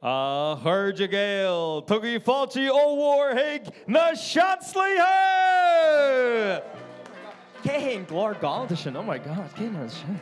A chairde Gael, tugaigí fáilte ollmhór chuig na Seansálaithe! Cé hé an glór gallda sin? Oh my God, cé hé sin?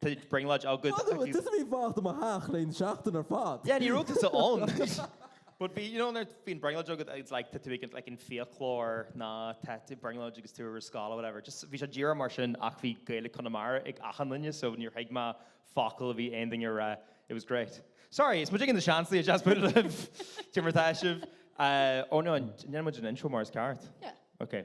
Tá brionglóid agat. Fág agat, tusa a bhí ag fanacht i mo theach le aon seachtain ar fad. Yeah, ní raibh tusa ann. But bhí, you know, nuair bhíonn brionglóid agat, it's like, tá tú ag an, like, an fiaclóir nó tá brionglóid agat is tú ar scoil or whatever. Just, bhí sé díreach mar sin ach bhí Gaeilge Conamara ag achan duine so níor thuig mé focal a bhí aon duine a rá. It was great. Sorry, is muidne na Seansálaithe just put it up. Cad é mar atá sibh. Uh, oh no, ní dhearna muid an intro mar is ceart. Yeah. Okay.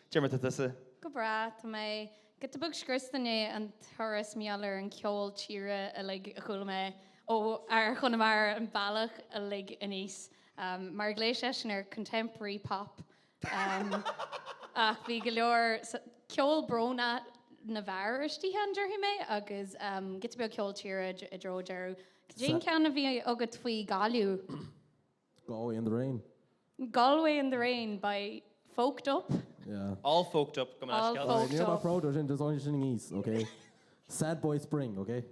Cad é mar atá tusa. Go breá, tá mé. Giota beag scriosta i ndiaidh an turas mar gheall ar an cheol tíre uilig a chuala mé ó fhear Chonamara an bealach uilig aníos. Mar a ghlaoigh seisean air, contemporary pop. Ach bhí go leor ceol brónach na bhfear istigh ann, déarfaidh mé, agus giota beag ceol tíre i dtreo deireadh. Cad é an ceann a bhí agat faoi Gaillimh? Galway in the rain. Galway in the rain by Folked Up. Yeah. All Folked Up, go mbeidh All scealta. Folked Right, níl mé Up. proud air sin, there's only sin i ngios, ok? Sad boy spring, ok?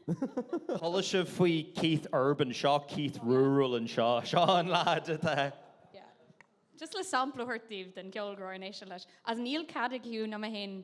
Chuala sibh faoi Keith Urban, seo Keith Rural anseo. Seo an leaid atá. Yeah. Just le sampla a thabhairt daoibh den cheol go raibh orainn éisteacht leis. As níl cead ag Hugh ná mé féin.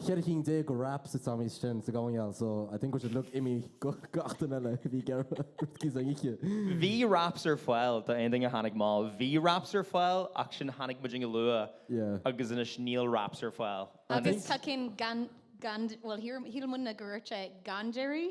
cheithre chinn déag go wraps ite agam is sin sa gcomhingheall so I think we should look imigh go gach duine eile a bhí ag iarraidh rudaí san oíche. Bhí wraps ar fáil do aon duine a tháinig mall, bhí wraps ar fáil ach sin tháinig muid go luath Yeah. agus anois níl wraps ar fáil. I Agus think. tá cinn gan, gan, bhuel shíl, shíl muidne go raibh sé gan déirí.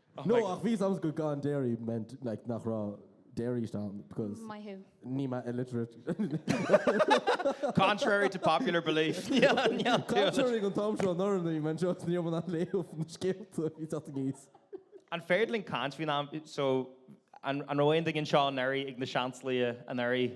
No, ach bhí sounds good gan dairy meant like nach raibh dairy istigh ann because Maith thú. ní mbeadh illiterate. Contrary to popular belief, níl, níl tú. Contrary. An t-am seo anuraidh ní mbeinn anseo agus níl mé in ann léamh na scéalta a bhí ag teacht aníos. An féidir linn caint faoin am, so, an raibh aon duine anseo anuraidh ag na Seansálaithe anuraidh?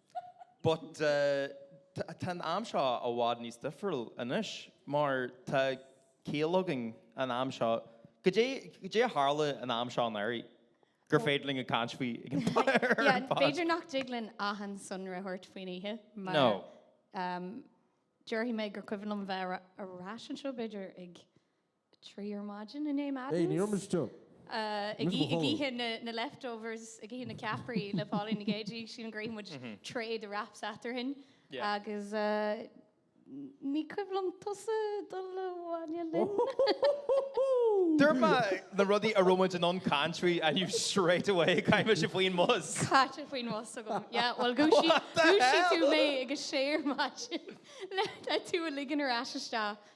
But tá an am seo i bhfad níos difriúil anois, mar tá ciall againn an am seo. Goidé a tharla an am seo anuraidh gur féidir linn caint faoi ag an bpointe ar fad? Yeah, b'fhéidir nach dtig linn achan sonra a thabhairt faoin oíche, nó déarfaidh mé gur cuimhin liom bheith ar ais anseo b'fhéidir ag. 3 ar maidin inné, Hé, ní raibh muid i Madden's. ag ithe na leftovers, ag ithe na ceapairí le Pauline Nic Géidigh, sílim gur ith muid tray de wraps eatarthainn Yeah. agus ní cuimhin liom tusa dul abhaile linn? Dúirt mé na rudaí a raibh muid in ann caint faoi and you straight away chaith tú mise faoin mbus! Caite faoin bhus agam. Yeah, bhuel dhúisigh What the dhúisigh tú hell? mé ag a sé ar maidin le le tú a ligean ar ais isteach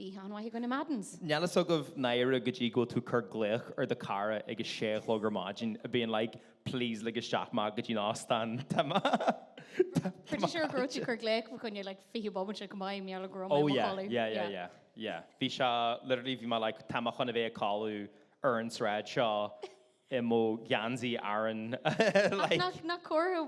Bhí am maith againn i Madden's. Níl fhios agaibh náire go dtí go bhfuil tú cur glaoch ar do cara ag a sé a chlog ar maidin a being like please lig isteach mé go dtí an óstán tá mé tá Pretty sure go raibh tú cur glaoch fa choinne like 20 bomaite go maith mar gheall go raibh mé oh yeah codladh. yeah yeah yeah yeah bhí sé literally bhí mé like tá mé chun a bheith ag codladh ar an sráid seo i mo geansaí Aran like nach nach comhartha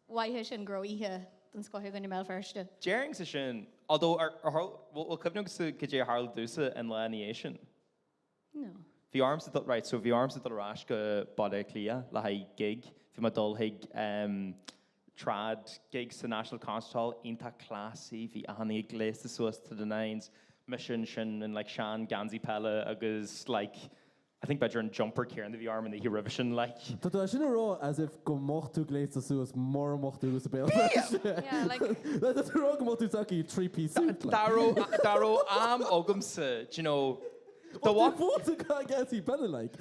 maith é sin go raibh oíche den scoth againn i mBéal Feirste. Déarfainnse sin. Although, ar tharla, bhuel, cuimhneoidh tú cad é a tharla duitse an lá ina dhiaidh sin? No. Bhí ormsa dul, right, so bhí ormsa dul ar ais go Baile Átha Cliath le haghaidh gig. Bhí mé ag dul chuig em trad gig sa National Concert Hall, iontach classy, bhí achan aoinne gléasta suas to the nines, mise ansin in like sean gheansaí peile agus like, I think b'fhéidir an jumper céanna a bhí orm an oíche roimhe sin, like. Tá tú sin a rá as if go mbeadh tú gléasta suas mura mbeadh tú i mBéal Feirste. Yeah, like. Like tá tú ag rá go mbeadh tú tagtha i three piece suit, like. Dá raibh, dá raibh am agamsa, do you know, do Well, de mo chuid geansaí peile, like.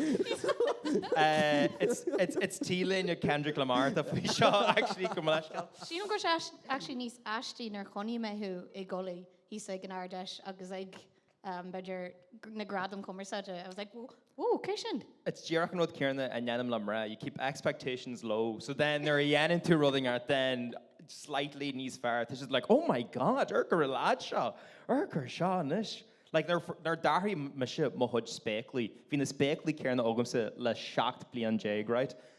Eh, it's, it's, it's t-léine Kendrick Lamar atá faoi seo, actually, gabh mo leithscéal. Sílim gur sea, actually, níos aistí nár choinnigh mé thú i gculaith thíos ag an Ard Fheis agus ag. b'fhéidir, na gradaim chumarsáide. I was like, whoa, oh, cé sin? It's díreach an rud céanna a ndéanaim le mná, you keep expectations low, so then nuair a dhéanann tú rud ínteacht, then slightly níos fearr, tá siad like, oh my god, fear gur lad seo, fear gur seo anois. Like, nuair a d'athraigh mise mo chuid spéaclaí, bhí na spéaclaí céanna agamsa le seacht bliain déag, right?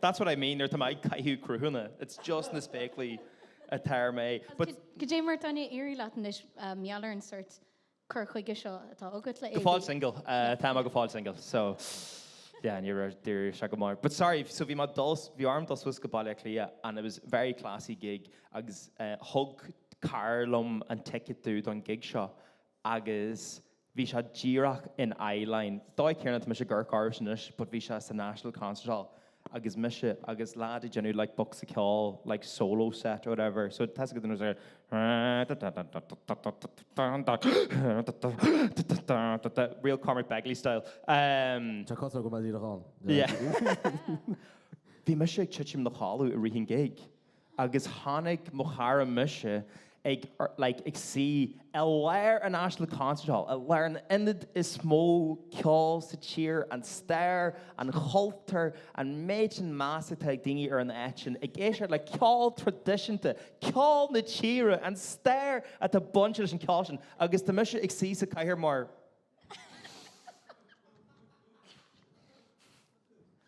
That's what I mean, nuair atá mé ag caitheamh crochóga, it's just na spéaclaí atá orm. But. cad é mar atá ag éirí leat anois maidir leis an sórt cur chuige seo atá agat le. Go fóill singil, tá mé go fóill singil, so yeah, ní raibh, d'fhiafraigh sé go mór. But sorry, so bhí, bhí orm dul suas go Baile Átha Cliath and it was a very classy gig agus thug cara liom an ticket domh don gig seo agus bhí sé díreach in eyeline, dóigh chéanna tá mise go do chuidse anois but bhí sé sa National Concert Hall agus mise agus leaid ag déanamh like bocsa ceoil like solo set or whatever so tá 'fhios agat an rud is real Cormac Begley style. Tá cosa agam a' díreach ann yeah bhí mise ag titim i mo chodladh i rith an gig. agus chonaic mo chara mise ag, like, ag suí i lár an National Concert Hall, i lár an ionaid is mó ceoil sa tír, an stair, an chultúr, an méid sin measa atá ag daoine ar an áit sin, ag éisteacht le ceol traidisiúnta, ceol na tíre, an stair atá bainte leis an ceol sin, agus tá mise ag suí sa chathaoir mar.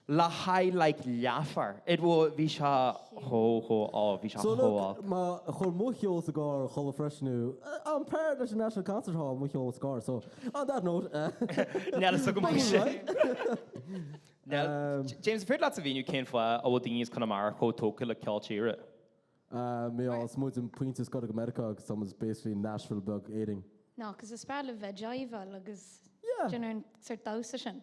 le haghaidh like leathfhear. It wa, bhí sé chomh, chomh, á, bhí sé So chomh, look, á. má chuir Mo Cheol do gCarr chuile freisin I'm paired leis an National Concert Hall Mo Cheol sa Carr so on that note eh Níl 'fhios agam Bring sin. it right Níl, James, is féidir leat a mhíniú cén fáth a bhfuil daoine as Conamara chomh tógtha le ceol tíre? Ah, mé, is muid an pointe is gaire do Mheiriceá agus tá muid basically Nashville beag Éireann. No, cos is breá libh jiveáil agus Yeah. do you know an sort damhsa sin.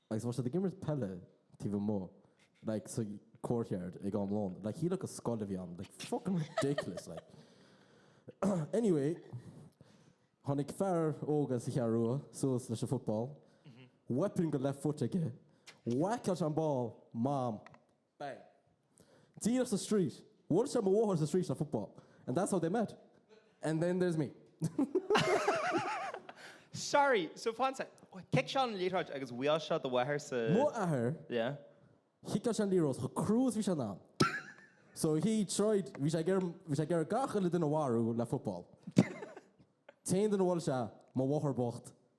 agus bhí siad ag imirt peile taobh amuigh like sa courtyard ag am lóin like shílfeá gur scoil a bhí ann like fucking ridiculous like anyway tháinig fear óg as an Cheathrú Rua suas leis an football weapon de left foot aige whack out an ball mom Bang. Díreach sa straois. Bhuail sé mo mháthair sa straois le football. And that's how they met. And then there's me. Sorry, so fan soic. Chic sé an liathróid agus bhuail sé do mháthair sa... M'athair... Yeah. Chiceáil sé an liathróid chomh crua is bhí sé in ann. So he tried, bhí sé ag iarraidh gach uile duine a mharú le football. An t-aon duine a bhuail sé mo mháthair bhocht.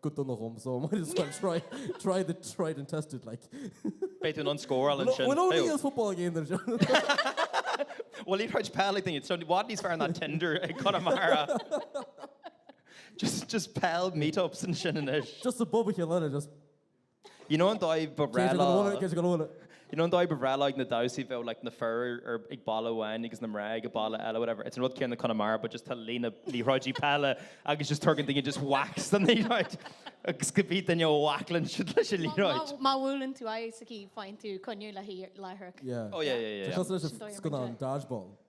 Go dona dhom so, might as well try, try the tried and tested like. Beidh tú in ann scóráil ansin. Well only as football game anseo. Well má thriail peil ag daoine, tá sé i bhfad níos fearr ná Tinder i gConamara. Just, just peil meetups ansin anois. Just ag bualadh a chéile, just. You know an dóigh ba bhreá leo, cé go bhfuil. you know an dóigh ba bhreá leo ag na damhsaí bheadh like na fir ar ag balla amháin agus na mná ag an balla eile whatever, it's an rud céanna Conamara but just tá líne liathróidí peile agus just tugann daoine just whacks don liathróid agus cibé duine a whackálann siad leis an liathróid. Má bhuaileann tú aghaidh sa chaoi faigheann tú coinne léithi láithreach. Yeah. Oh yeah yeah yeah yeah. Tá sé leis an scannán Dodgeball.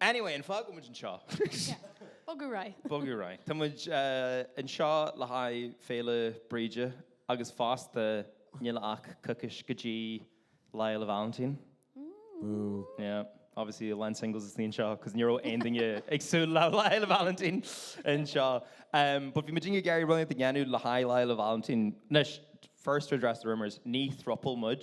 Anyway, an fáth go bhfuil muid anseo? Bogadh ar aghaidh. Bogadh ar aghaidh. Tá muid anseo le haghaidh Féile Bríde agus fosta níl ach coicís go dtí Lá Fhéile Vailintín. Yeah, obviously a lán singles istigh anseo cos ní raibh aon duine ag súil le Lá Fhéile Vailintín anseo. But bhí muidinne ag iarraidh rud éigin a dhéanamh le haghaidh Lá Fhéile Vailintín. Anois, first to address the rumours, ní throuple muid.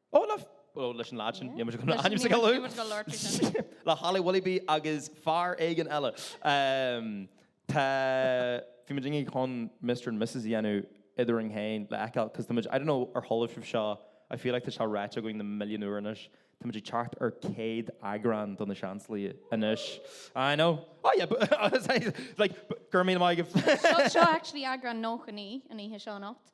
Ó le bhfuil leis an leaid sin, níl muid ag dul aníos ag a lú. le Holly Willoughby agus fear éigin eile. Tá, bhí muidinne chun Mister and Missus a dhéanamh eadrainn féin le fheiceáil because tá muid, I don't know ar chuala sibh seo, I feel like tá seo ráite againn na milliún uair anois, tá muid ag teacht ar 100 eagrán do Na Seansálaithe anois. I know, oh yeah but like, go raibh míle maith agat. Seo actually eagrán 99 an oíche seo anocht.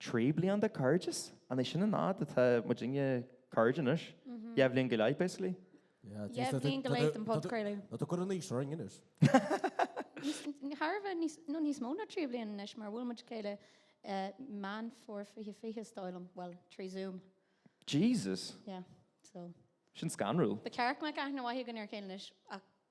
Trí bliain de cairdeas? An é sin an fhad atá muidinne cairde anois? Dhá bhliain go leith, basically. Dhá bhliain go leith den podchraoladh. Nó tá cur in aois orainn anois. Thar a bheith, nó níos mó ná trí bliain anois, mar bhuail muid a chéile i Meán Fómhair 2020, is dóigh liom, bhuel, trí Zoom. Jesus! Yeah, so. Sin scanrúil. Ba ceart go mbeadh aithne mhaith againn ar a chéile anois, ach.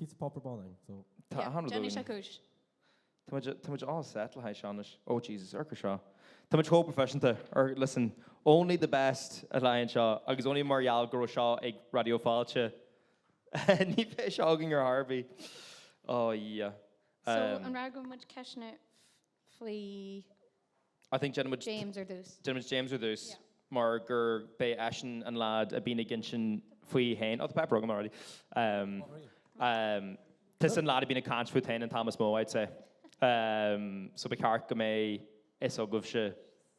Píosa páipéar bán é so. Yeah, déanfaidh sé cúis. Tá muid, tá muid all set le haghaidh seo anois. Oh Jesus, amharc air seo. Tá muid chomh proifisiúnta, listen, only the best le haghaidh an seó agus only mar gheall go raibh seo ag Raidió Fáilte. Ní bheadh seo againn ar chor ar bith. Oh yeah. So, Um, an rachaidh muid ceisteanna faoi I think déanfaidh muid James ar dtús. James ar dtús. Yeah. mar gurb é eisean an leaid a bhíonn ag insint faoi fhéin. Oh, tá páipéar agam already. Um, um, tusa an leaid a bhíonn ag caint fút fhéin an t-am is mó, I'd say. Um, so ba cheart go mbeidh a fhios agaibhse.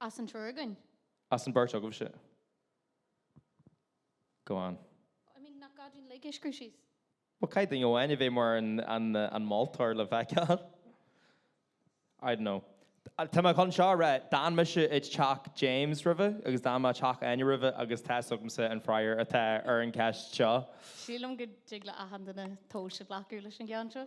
As an triúr againn. As an beirt agaibhse. Go on. I mean, nach gá dúinn Ligesh Crucis? Well, caithfidh Áine a bheith mar an moltóir le bheith ceart? I don't know. Tá mé chun seo a rá, d'fhan mise i teach James roimhe agus d'fhan mé i teach Áine roimhe agus tá's agamsa an freagra atá ar an gceist seo. Sílim go dtig le achan duine tomhas a ghlacadh leis an gceann seo.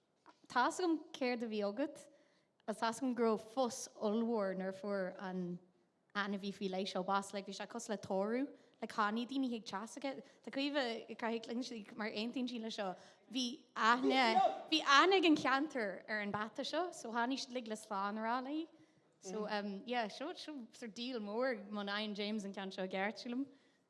Tá's agam céard a bhí agat, agus tá's agam go raibh fuss ollmhór nuair a fuair an ainmhí faoi leith seo bás, like bhí sé cosúil le tórramh, like tháinig daoine chuig teach s'aici, tá Caoimhe ag croitheadh a cinn ansin, like mar aontaíonn sí leis seo, bhí aithne, bhí aithne ag an cheantar ar an bpeata seo, so tháinig siad like le slán a rá léi. So yeah, seo, seo sort of díol mór, má fhaigheann James an ceann seo i gceart, sílim.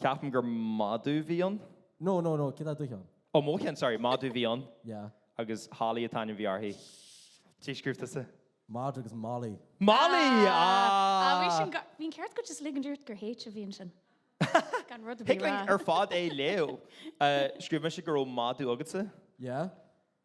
Ceapaim gur madadh a bhí ann. No, no, no, caidé do cheann? Ó, mo cheann, sorry, madadh a bhí ann. Yeah. Agus Holly an t-ainm a bhí uirthi. Caidé scríobh tusa? Madra agus Molly. Molly! Ah! Bhí'n ceart agat, just ligean ort gur H a bhí ansin. Gan rud ar bith a rá. Thig linn ar fad é a léamh. Scríobh mise go raibh madadh agatsa. Yeah.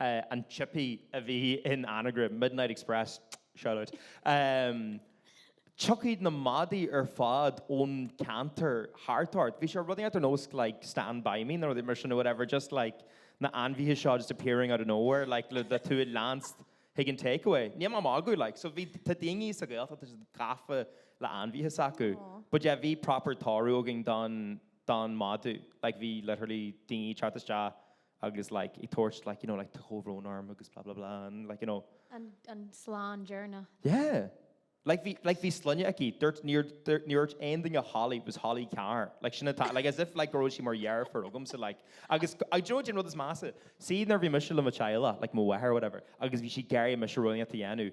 a an chippy a bhí in anagram, Midnight Express, shoutout. Tiocfaidh na madaidh ar fad ón ceantar thart ort. Bhí sé rudaí ar nós like Stand By Me nó rudaí mar sin nó whatever, just like na ainmhithe seo just appearing out of nowhere like le le tú a leanstan chuig an takeaway. Níl mé ag magadh like. So bhí, tá daoine sa Ghaeltacht tá siad gafa le ainmhithe s'acu. But yeah bhí proper tórramh againn don don madadh. Like bhí literally daoine ag teacht isteach agus like ag tabhairt like you know like comhbhrón orm agus blah blah blah and like you know. an an slán deireanach. yeah like bhí like bhí sloinne aici dúirt níor dúirt níor dúirt aon duine Holly it was Holly Carr like sin atá like as if like go raibh sí mar dheirfiúr agamsa like agus do you know an rud is measa see nuair a bhí mise le mo theaghlach like mo mháthair or whatever agus bhí sí ag iarraidh mise rud inteacht a dhéanamh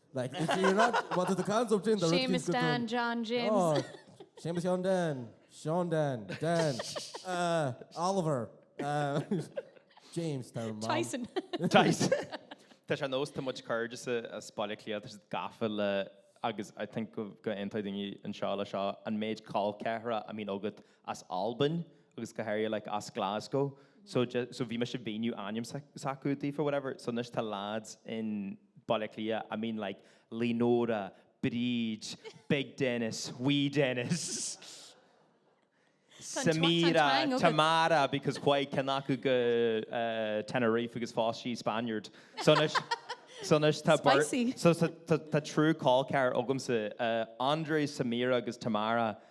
Like if you're not, what is the concept of gender? Séamus Dan, John, James. Oh, Séamus John Dan, Seán Dan, Dan, uh, Oliver, uh, James, tá mar. Tyson. Tyson. Tá sé ar nós tá mo chuid cairde as Baile Átha Cliath, tá siad gafa le agus I think go go aontóidh daoine anseo le seo, an méid col ceathrair a mbíonn agat as Albain agus go háirithe like as Glasgow so just so bhí mise ag míniú ainm s'acu daofa or whatever so anois tá lads in Baile Átha Cliath I mean like Lee Nora, Bríd, Big Denis, Wee Denis, Samira, Tamara because chuaigh ceann acu go Tenerife agus phós sí Spaniard so anois so anois tá so tá triúr col ceathar agamsa André, Samira agus Tamara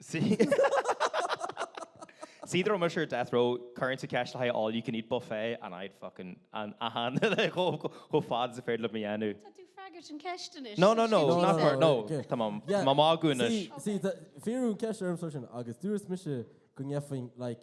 See dá raibh mise ar Death Row, chuirfinnse ceist le haghaidh all you can eat buffet and I'd fucking fan ann chomh fada is is féidir liom é a dhéanamh. Tá tú ag freagairt an cheist anois. No, no, no, not for, no, tá mé, tá mé ag magadh anois. See, see, fiafraíodh an cheist ormsa sin agus dúirt mise go ngeibhfinn like,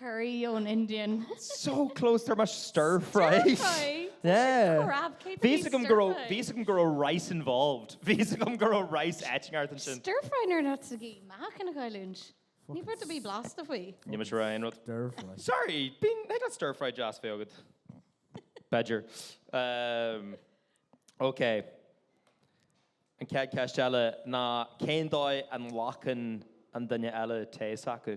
Curry ón Indian. So close, dúirt muid stir fry. Stir fry? Yeah. Sin crap, cé do Bhí fhios agam go raibh, stir fry? bhí fhios agam go raibh rice involved. Bhí fhios agam go raibh rice áit éigin thart ansin. Stir fry nuair ná tu ag meadhc ina gcailliúint. Níl rud ar bith blasta faoi. Níl mise ag rá aon rud. Stir fry. Sorry, bíonn, thig leat stir fry deas bheith agat. Badger. Um, ok. An chéad cheist eile ná cén dóigh a nglacann an duine eile tae s'acu?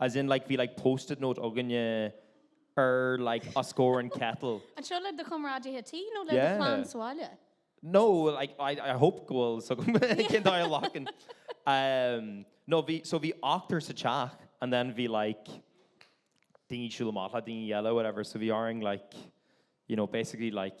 As in like bhí like post-it note againne ar like os comhair an kettle. Anseo le do chomrádaithe tí nó le do chlann sa bhaile? No, like I I hope go bhfuil so go mbeidh cén dóigh a nglacann. Umm no bhí so bhí ochtar sa teach and then bhí like daoine ag siúl amach le daoine eile whatever so bhí orainn like you know basically like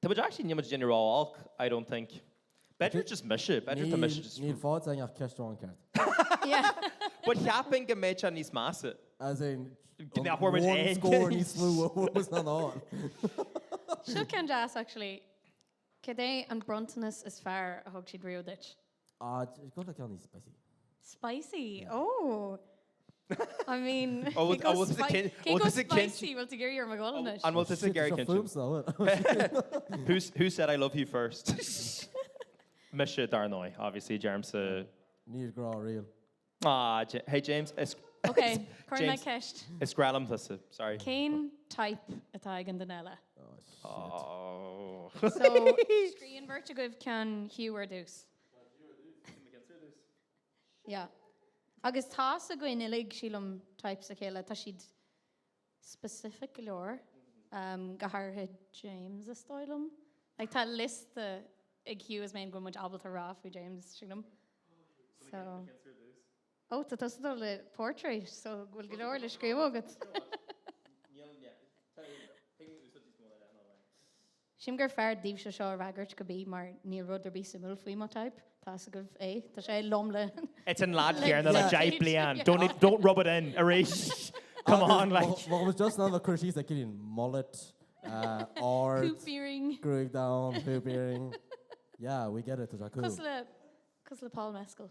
Tá muid actually, níl muid ag déanamh ró-olc, I don't think. B'fhéidir just mise, b'fhéidir tá mise just. Níl, níl faighte ach ceist amháin ceart. But cheapfainn go mbeadh sé níos measa. As in, go mbeadh muid aon scór níos lú agus ná ná. Seo ceann deas actually. Cad é an bronntanas is fearr a thug siad riamh duit? Ádh, go bhfuil ceann níos spicy. Spicy? Ó! I mean, cé go spicy? Bhfuil tú ag iarraidh orm a dhul anois? An bhfuil tusa ag iarraidh caint? Shit, seo fúmsa, ó. Who said I love you first? Mise, dar ndóigh, obviously, James. Níl grá riamh. Ah, hey James, is Ok, cuirfidh mé ceist. is grá liom tusa, sorry. Cén type atá ag an duine eile? Oh. So, scríobhann beirt agaibh ceann Hugh ar dtús. Yeah. Agus tá 's againn uilig, sílim, types a chéile. Tá siad specific go leor, go háirithe James, is dóigh liom. Like, tá liosta ag Hugh is mé féin go bhfuil muid ábalta a rá faoi James, sílim. So. Ó, tá tusa ag dul le portrait, so bhfuil go leor le scríobh agat. Sílim gur fearr daoibhse seo a fhreagairt cibé mar níl rud ar bith suimiúil faoi mo type. Tá fhios agaibh é, tá sé i lom le. It's an lad chéarna le deich bliain, don't need, don't rub it in arís, come on like. Má bhfuil just ann le cur síos le Cillian, mullet, ard, Hoop earring. gruaig donn, hoop earring, yeah, we get it, tá sé cool. Cosúil le, cosúil le Paul Mescal.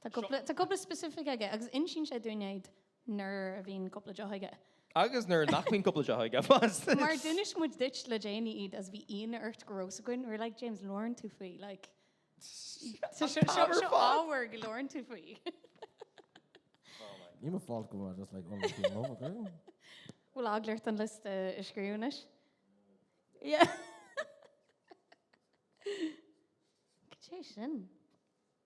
Tá cúpla, tá cúpla specific aige agus insíonn sé dúinn iad nuair a bhíonn cúpla deoch aige. Agus nuair nach mbíonn cúpla deoch aige fós. Mar d'inis muid duit le déanaí iad is bhí ionadh ort go raibh fhios againn. We were like, James, labhrann tú faoi, like, seo, seo, seo ábhar go labhrann tú faoi. Ní mo fault go bhfuil mé just like, oh, like, you know, ok. Bhfuil eagla ort an liosta a scríobh anois? Yeah. Cad é sin?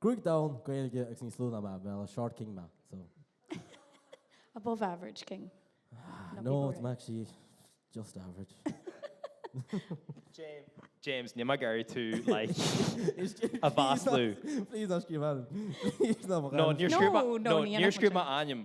Gruaig dhonn, Gaeilge agus níos lú ná mé, well, a short king mé, so. Above average king. No, I'm actually just average. James, níl mé ag iarraidh tú, like, a mhaslú. Please, ná scríobh ainm. Please, ná scríobh ainm. No, níor scríobh mé ainm.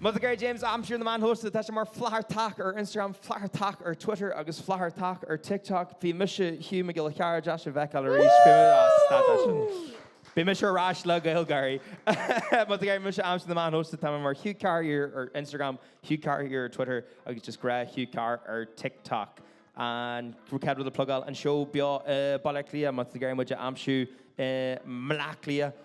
Má tá tú ag iarraidh James a aimsiú ar na meáin shóisialta, tá sé mar Flathartach ar Instagram, Flathartach ar Twitter agus Flathartach ar TikTok. Bhí mise, Hugh Mac Giolla Chearra, deas sibh a fheiceáil arís. Bhí mise, ah, stad as sin. Beidh mise ar ais le GaelGÁIRÍ. Má tá tú ag iarraidh mise a aimsiú ar na meáin shóisialta, tá mé mar Hugh Carr here ar Instagram, Hugh Carr here ar Twitter agus just gnáth Hugh Carr ar TikTok. An chéad rud le plugáil an seó beo i mBaile Átha Cliath, má tá tú ag iarraidh muid a aimsiú i mBaile Átha Cliath.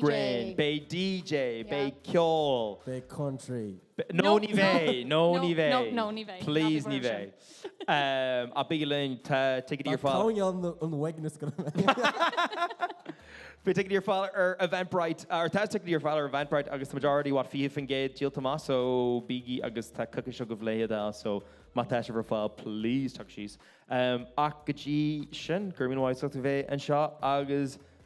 Gréin. Beidh DJ. Beidh ceol. Beidh country. No, ní bheidh. No, ní bheidh. No, ní bheidh. Please, ní bheidh. Ach bígí linn, tá ticéidí ar fáil. Tá ceann ann an bheidh na scoileanna. Beidh ticéidí ar fáil ar Eventbrite, or tá ticéidí ar fáil ar Eventbrite agus tá muid already, what, 20% díolta amach, so bígí agus tá coicís agaibh le hiad a fháil, so má tá sibh ar fáil, please tagaigí síos. Ach go dtí sin, go raibh míle maith agat as a bheith anseo agus